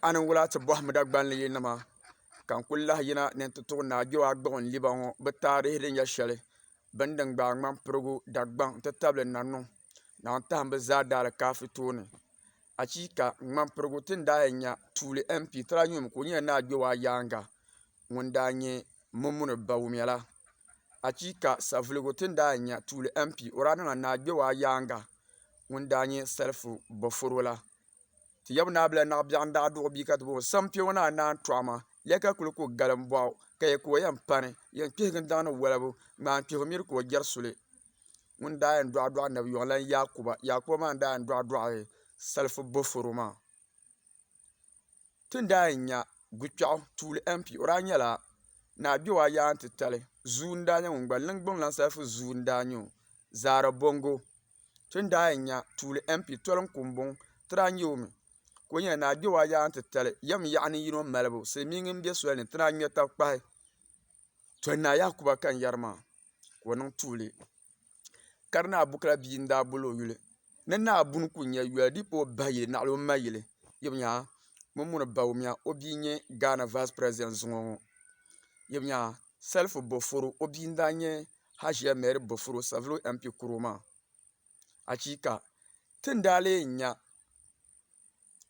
a ni wula ti bɔhim Dagbanli yi nima ka n kuli lahi yina ni n ti tuɣi Naa Joagbɔɣu n liba ŋɔ bɛ taarihi din nyɛ shɛli bini din gbaai ŋmani pirigu Dagbaŋ n-ti tabili Nanuŋ Naa n-tahim bɛ zaa daalikaafɛ tooni. Achiika! Ŋmani pirigu ti ni daa yɛn nya tuuli MP Tranyum ka o nyɛla Naa Joaa yaaŋa ŋun daa nyɛ Mumuni ba wumya la. Achiika! Savuligu ti ni daa yɛn nya tuuli MP o daa niŋla Naa Joaa yaaŋa ŋun daa nyɛ Salifu Boforo la Ti yaba naa bila naɣ biɛɣu n-daa duɣ o bia ka ti bɔh o, Sam kpe ŋɔ naa naan tɔɣ ma, lɛh ka kul ku gal m-bɔh o, ka ya ka o yɛn pani, yɛn kpihigi n-daŋ ni walibu, ŋmaa n-kpihigi miri ka o jɛri suli. Ŋun daa yɛn dɔɣi dɔɣi Nabi Yɔɣu la n-Yaakuba. Yaakuba maa n-daa yɛn dɔɣi dɔɣi Salifu Boforo maa. Ti ni daa yɛn nya Guikpɛɣu tuuli MP, o daa nyɛla Naa Gbewa Yaanŋ Titali zuu n-daa nyɛ ŋun gba n Lingbung Lansalifu zuu n-daa nyɛ o, Zaara Bongo. Ti ni daa yɛn nya tuuli MP Toli Nkumbuŋ, ti daa nya o mi ka o nyɛla Naa Gbewa Yaanŋ Titali yɛm yaɣa ni yino malibu silimiingi m-be soli ni ti daa ŋme tabi kpahi Toli Naa Yakuba Kanyari maa ka o niŋ tuuli. ka di naa bukila bia n daa boli o yuli ni naa bunu ku nyɛ yoli di yi kpa o ba yili naɣila o ma yili yɛbi nyaa ŋun mi ni bao miya o bia n nyɛ Ghana vais presidɛnt zuŋɔ ŋɔ yɛbi nyaa salifu boforo o bia n daa nyɛ haʒiya mɛri boforo savulu MP kuro maa achiika ti ni daa lee nya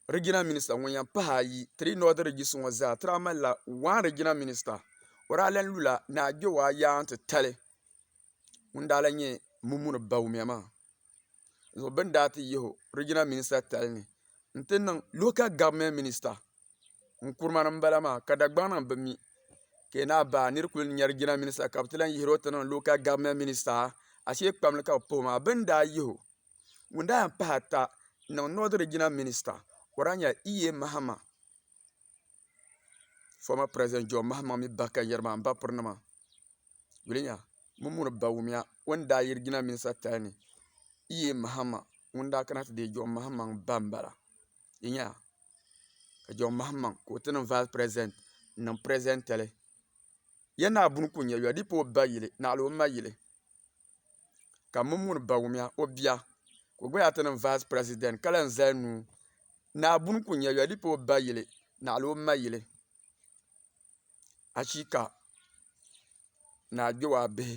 Regional Minister ŋun yan pahi ayi three northern regions ŋɔ zaa tiri a mali la one regional minister o daa lan lu la ni a gbe o a yaa n ti tali ŋun daa lan nyɛ Mumuni Bawumia maa zuɣu bɛ ni daa ti yihi o regional minister tali ni n ti niŋ local government minister Nkrumah ni m bala maa ka Dagbaŋ nim bi mi ka yi naai bahi a niri kuli nya regional minister ka bɛ ti lan yihiro ti niŋ local government minister ashee kpam li ka bɛ pah o maa bɛ ni daa yihi o Ŋun daa yɛn pahi ata n-niŋ North Regional Minister ka o daa nyɛla E.A Mahama, former President John Mahama mini ba kanyari maa m-bapiri nima. Yuli nya Mumuni Bawumia o ni daa yi Regional Minister tali ni E.A Mahama ŋun daa kana ti deei John Mahama ba m-bala. Yi nya ka John Mahama ka o ti niŋ Vice President n-niŋ President tali. Ya naa buni ku nya yɔdipo o ba yili, naɣila o ma yili, ka mini muni Bawumia o bia, ka o gba yaa ti niŋ Vice President ka lahi zali nuu. Naa buni ku nya yɔdipo o ba yili, naɣila o ma yili. Achiika! Naa Gbewaabihi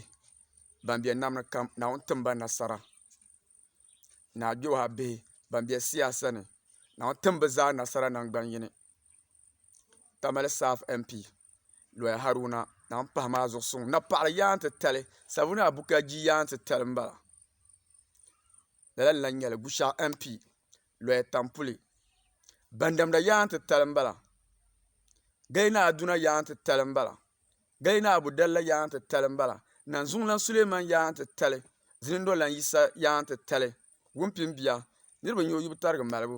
ban be nam ni kam, Naawuni tim ba nasara. Naa Gbewaabihi ban be siyaasa ni, Naawuni tim bɛ zaa nasara naŋgban yini. Tamale South MP Loya Haruna zaŋ pahi maa zuɣu suŋ napaɣa yaa n ti tali Savuna Abukaji yaa n ti tali m bala lala n lahi nyɛli Gushaɣu MP Loya Tampuli Bandamda yaa n ti tali m bala Gayina Aduna yaa n ti tali m bala Gayina Abu Dalla yaa n ti tali m bala Nanzuŋlan Suleman yaa n ti tali Zinindolan Yisa yaa n ti tali Wumpinbia niriba nyo yi bi tarigi malibu.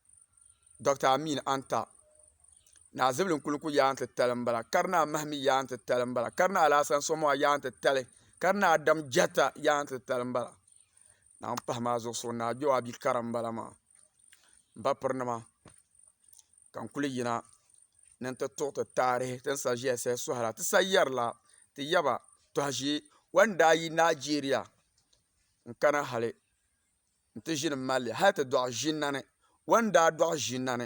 Dɔkta Amin Antah, ni azibili n-kuli ku yaai nti tali m-bala, ka di ni amahi mi yaai nti tali m-bala, ka di ni Alahasan Asamoah yaai nti tali, ka di ni Adam Jatta yaai nti tali m-bala. Naawuni m-pahi maa zuɣu so ni Ajo Abi kara m-bala maa. M ba pirinima, ka n kuli yina ni nti tuɣi ti taarihi ti ni sa ʒiya saha sɔhi la. Ti sa yɛri la, ti ya ba tɔha ʒee. Wala n-daa yi Nigeria n-kana hali. n-ti ʒini m-mali li hali ti dɔɣi ʒinnani. O ni daa dɔɣi ʒinnani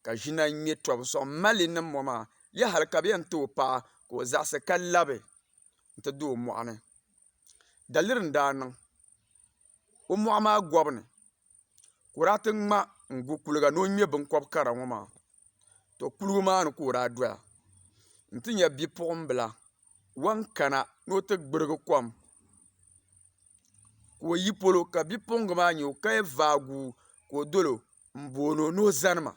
ka ʒinna ŋme tɔbu sɔŋ m-mali li niŋ mɔ maa ya hali ka bɛ yɛn ti o paɣa ka o zaɣisi ka labi n-ti di o mɔɣu ni. Daliri n-daa niŋ o mɔɣu maa gɔbu ni ka o daa ti ŋma n-gu kuliga ni o ŋme biŋkɔb kara ŋɔ maa. Tɔ kuliga maa ni ka o daa doya nti nya bipuɣimbila wan kana ni o ti gbirigi kom ka o yi polo ka bipuɣungi maa nyɛ o ka yɛn vaagu ka o dolo n boono ni o zani ma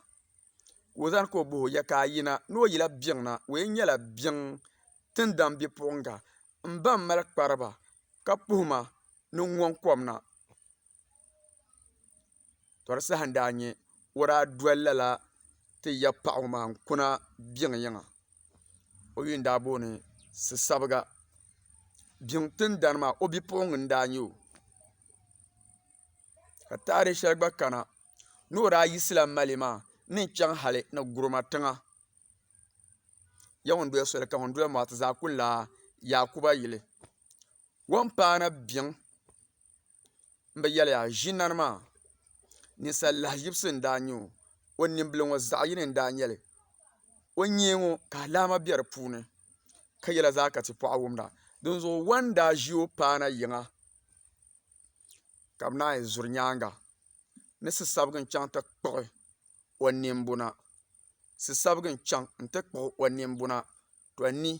ka o zani ka o boho yɛ ka a yina ni o yila biɛŋ na o yɛn nyɛla biɛŋ tindaŋ bipuɣunga n ba n mali kpariba ka puhuma ni n ŋɔŋ kom na tɔri saha n daa nyɛ o daa doli lala ti ya paɣa ŋɔ maa n kuna biŋ yiŋa o yuli n daa booni sisabiga biŋ tindana maa o bipuɣungi n daa nyɛ o ka taari shɛli gba kana ni o daa yisi la mali maa ni n chɛŋ hali ni gurooma tiŋa ya ŋun doli soli ka ŋun doli maati zaa ku lahi yaakuba yili Wuntaana biɛŋ n bi yɛli yaa ʒinani maa ninsal lahaʒibisi n daa nyɛ o o ninbili ŋo zaɣ yini n daa nyɛli o nyee ŋo ka alaama bɛ di puuni ka yɛla zaa ka ti paɣi wumda dinzuɣu waŋ daa ʒi o paana yiŋa ka bi naan yi zuri nyaanga ni sisabigi n chɛŋ ti kpuɣi o nimbuna sisabigi n chɛŋ ti kpuɣi o nimbuna to ni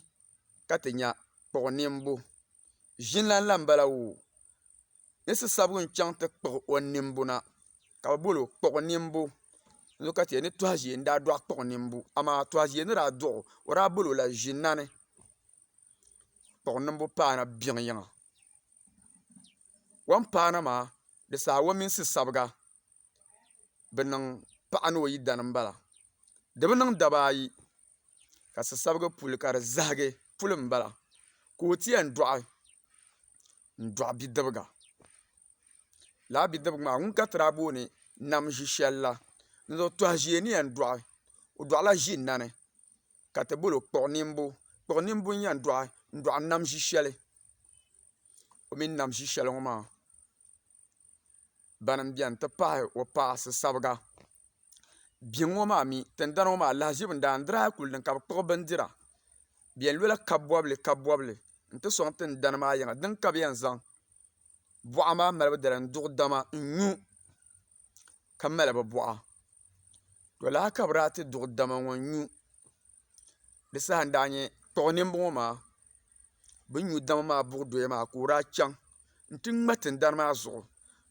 ka ti nya kpuɣi niŋbu. Ʒinlan la m-bala woo. Ni si sabigu n-chaŋ ti kpuɣi o niŋbu na, ka bɛ bol o kpuɣi niŋbu. N ni ka ti yɛli ni Tɔhaʒee n-daa dɔɣi kpuɣi niŋbu, amaa Tɔhaʒee ni daa dɔɣi o, o daa bol o la ʒinani. Kpuɣi niŋbu paana biŋ yiŋa. Wampaana maa, di saha o mini si sabiga. bi niŋ paɣa ni o yidana n bala di bi niŋ daba ayi ka sasabigi puli ka di zahigi puli n bala ka o ti yɛn dɔɣi n dɔɣi bidibiga lala bidibiga maa ŋun ka ti daa booni nam ʒi shɛli la n zuɣu tɔha ʒiɛ ni yɛn dɔɣi o dɔɣi la ʒi nani ka ti bolo kpuɣi ninibu kpuɣi ninibu n yɛn dɔɣi n dɔɣi nam ʒi shɛli o mini nam ʒi shɛli ŋɔ maa. bani n bɛni ti pahi o paɣa si sabiga biɛŋ ŋɔ maa mi tingbani ŋɔ maa lahazibu n daa n dirila kuli ni ka bi kpuɣi bindira bi yɛn lola kabi bɔbili kabi bɔbili n ti sɔŋ tingbani maa yiŋa dini ka bi yɛn zaŋ buɣa maa malibu dali n duɣi dama n nyu ka mali bi bɔɣa lala ka bi daa ti duɣi dama ŋɔ n nyu. di saha n daa nyɛ kpuɣi ninbɔŋɔ maa bin nyu dama maa buɣi doya maa ka o daa chaŋ n ti ŋmɛ tingbani maa zuɣu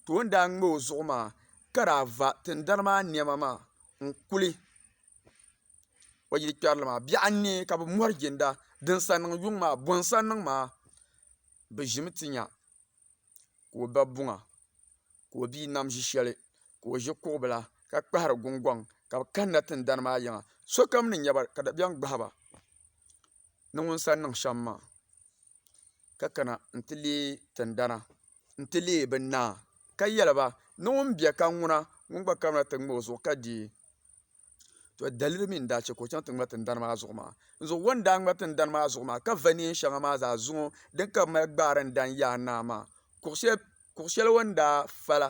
ka o ni daa ŋmɛ o zuɣu maa ka daa va tingbani maa niɛma maa n kuli o yili kpɛrili maa biɛɣu n niɛ ka bi mori ginda din sa niŋ yuŋ maa bɔn sa niŋ maa bi ʒimi ti nya ka o ba buŋa ka o bia nam ʒi shɛli ka o ʒi kuɣu bila ka kpahari gungoŋ ka bi kanna tingbani maa yiŋa sokam ni nyɛba ka dabiɛm gbahaba ni ŋun sa niŋ shɛm maa ka kana n ti leei tingbana n ti leei bi naa ka yɛliba ni ŋun bɛ ka ŋuna ŋun gba kana ti ŋmɛ o zuɣu ka deei to daliri mi n daa chɛ ka o chaŋ ti ŋmɛri tingbani maa zuɣu maa dinzuɣu o ni daa ŋmɛri tingbani maa zuɣu maa ka va neen shɛŋa maa zaa zaŋ din ka bi mali gbaari n daŋ yaai naa maa kuɣu shɛli o ni daa fa la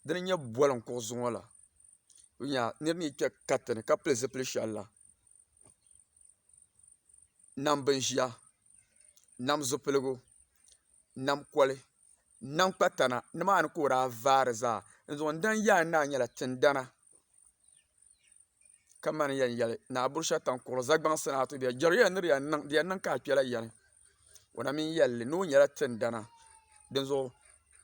din nyɛ boli n kpuɣu zuŋɔ la n nya niraba ni kpɛ katinli ni ka pili zipili shɛli la nam bin ʒiya nam zipiligu nam koli n na kpa tana nimaani ka o daa vaari zaa n dani yaai n naa nyɛla tindana ka mani yɛn yɛli naa Bushataŋ kuri zagbaŋsi ni a ti bɛ jɛri yɛn ni di yɛn niŋ di yɛn niŋ ka a kpɛla yani o na mii yɛlli ni o nyɛla tindana dinzuɣu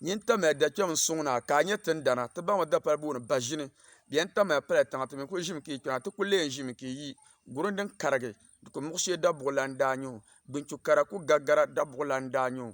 nyin tamya dakpɛm n suŋ naa ka a nyɛ tindana ti baŋmi dapali booni baʒini di yɛn tamya pala tiŋa ti mii ku ʒimi ka yi kpɛna ti ku lee ʒimi ka yi yi guri din karigi di ku muɣi shee dabuɣula n daa nyɛ o binchu kara ku gagara dabuɣula n daa nyɛ o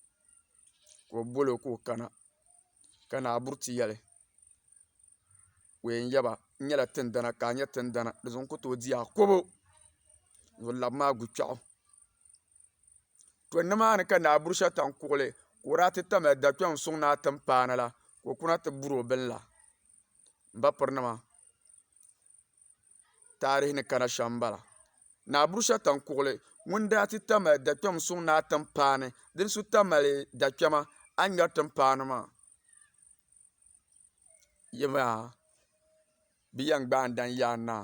ka o bol o ka o kana ka naa Buriti yɛli ka o yɛn yaba n nyɛla tindana ka a nyɛ tindana di zuɣu n ku tooi di akobo ni o laba maa guchɛɣu to nimaani ka naa buri shɛli tam kuɣuli ka o daa ti tamya da kpɛm n soŋ ni a tim paana la ka o kuna ti buri o bin la n ba piri nima taarihi ni kana shɛm m-bala. Naa Burusia Taŋkuɣili ŋun daa ti ta mali dakpɛm suŋ naa timpaani din su ta mali dakpɛma a ni ŋmɛri timpaani maa yiŋa bɛ yɛn gbaai n-daŋ yaai naa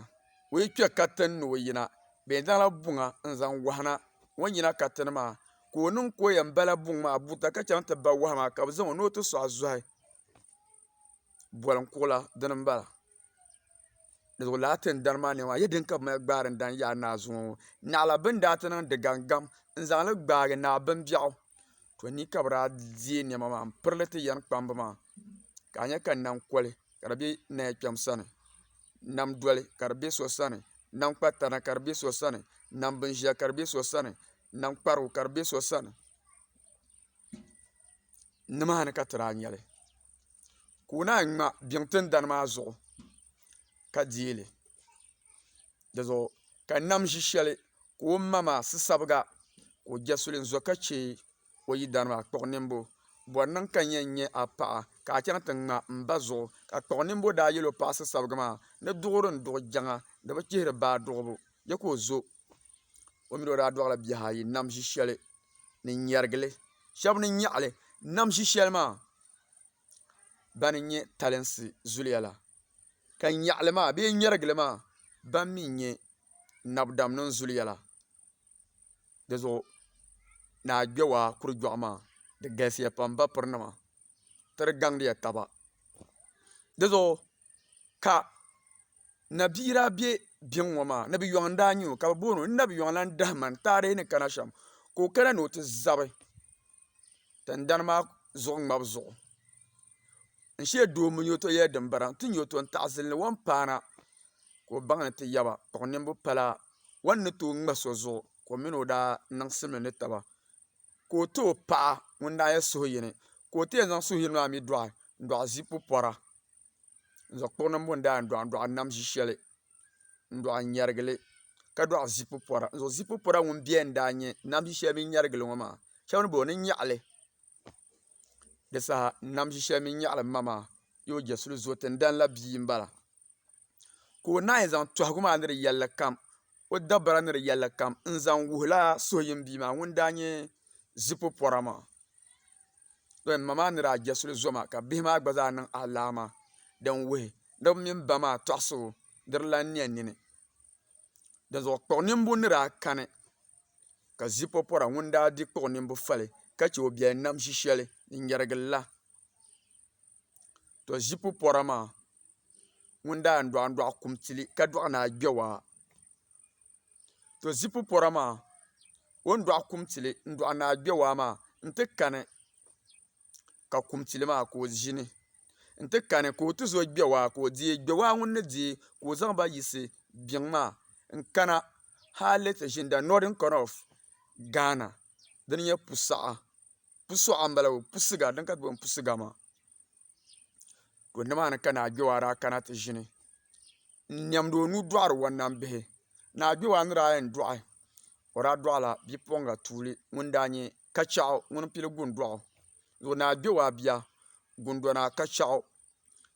o yi kpe ka ti ni o yina bɛ yɛn zaŋla buŋa n-zaŋ wahi na o ni yina ka ti ni maa ka o niŋ ka o yɛn bala buŋ maa buta ka chaŋ ti ba wahi maa ka bɛ zaŋ o ni o ti sɔɣi zɔhi. boli n kuɣula dini n bala di zuɣu lala tin dari maa niɛma a yɛ din ka bi mali gbaari daŋ yaai naa zuŋɔ ŋɔ naɣila bin daa ti niŋdi gangam n zaŋli gbaagi naa bin biɛɣu to ni ka bi daa deei niɛma maa n pirili ti yɛn kpamba maa ka a nyɛ ka nam koli ka di bɛ naya kpɛm sani nam doli ka di bɛ so sani nam kpa tana ka di bɛ so sani nam bin ʒiya ka di bɛ so sani nam kparigu ka di bɛ so sani nimaani ka ti daa nya li ka o naan ŋma biŋ tingbani maa zuɣu ka deei li dizuɣu ka nam ʒi shɛli ka o ma maa sisabiga ka o je suli n-zo ka che o yidana maa kpuɣ nimbu bɔri niŋ ka n yɛn nya a paɣa ka a chaŋ ti ŋma m ba zuɣu ka kpuɣ nimbu daa yɛl o paɣ sisabiga maa ni duɣiri n-duɣi jɛŋa di bi chihiri baa duɣibu je ka o zo o mi ni o daa dɔɣila bihi ayi nam ʒi shɛli ni nyɛrigili shab ni nyaɣali nam ʒi shɛli maa ban n nyɛ talinsi zuliya la ka nyaɣali maa bee nyɛrigili maa ban mii n nyɛ nab dam nim zuliya la dizuɣu ni a kpɛ waa kuri jɔɣu maa di galisiya pam ba piri nima ti di gaŋ diya taba dizuɣu Ka nabiira be biŋ ŋɔ maa nabiyɔŋ n daa nyɛ o ka bi booni o n nabiyɔŋ lan dahiman taarihi ni kana shɛm ka o kana ni o ti zabi tindana maa zuɣu ŋmabu zuɣu n shee doo n nyɛ o to yɛli dimbira n ti nyɛ o to n taɣisiri li wan paana ka o baŋ ni ti yaba kpuɣi ninvuɣ pala wan ni tooi ŋma so zuɣu ka o mini o daa niŋsim ni taba ka o ti o paɣa ŋun daa nyɛ suhuyini ka o ti yɛn zaŋ suhuyini maa mi dɔɣi n dɔɣi ʒii pupɔra n zaŋ kpuɣu niŋbu n daai n dɔɣi n dɔɣi nam ʒi shɛli n dɔɣi n nyɛrigili ka dɔɣi zipu pɔra n zaŋ zipu pɔra ŋun bɛ n daa nyɛ nam ʒi shɛli mini nyɛrigili ŋɔ maa shɛba ni bɔ ni nyaɣili di saha nam ʒi shɛli mini nyaɣili n ma maa ni o jɛsuli zɔɔ ti n dani la bia n bala ka o naanyi zaŋ tɔhigu maa ni di yɛlli kam o dabara ni di yɛlli kam n-zaŋ wuhila suhuyini bia maa ŋun daa nyɛ zipu pɔra maa. Dɔn ma maa ni daa je suli zo maa ka bihi maa gba zaa niŋ alaama din wuhi ni bɛ mini ba maa tɔɣisi o di di lan nia nini. Dinzuɣu kpuɣ nimbu ni daa kani ka zipu pɔra ŋun daa di kpuɣ nimbu fali ka che o biɛli nam ʒi shɛli din yɛrigi la. To ʒipu pɔra maa ŋun daa n dɔɣi dɔɣi kum tili ka dɔɣi ni a gbɛwaa to ʒipu pɔra maa o ni dɔɣi kum tili n dɔɣi ni a gbɛwaa maa n ti kani ka kum tili maa ka o ʒini n ti kani ka o ti za o gbɛwaa ka o deei gbɛwaa ŋuni ni deei ka o zaŋ ba yiɣisi biɛŋ maa n kana hali ti ʒini the northern corner of Ghana dini n-nyɛ Pusaɣa. pusuɣa n bala pusuga din ka ti booni pusuga maa ka o nimaani ka naa kpɛwaa daa kana ti ʒini n nɛmdi o nuu dɔɣiri o nam bihi naa kpɛwaa ni daa yɛn dɔɣi o daa dɔɣila bipuɣiŋga tuuli ŋun daa nyɛ kachaɣu ŋuni n pili gundɔɣu naa kpɛwaa bia gundona kachaɣu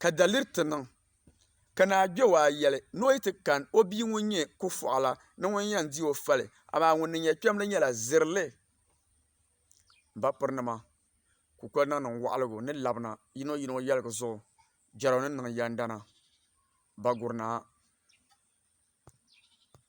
ka daliri ti niŋ, ka naa Gbewaa yɛli ni o yi ti kani o bia ŋun nyɛ Kufuɣila ni ŋun yɛn di o fali, amaa ŋun ni nyɛ kpɛmli nyɛla Zirili. M ba pirinima, kukoli niŋ niŋ waɣiligu ni labina yino yino yɛligu zuɣu jɛro ni niŋ yɛndana, Bagurinaa.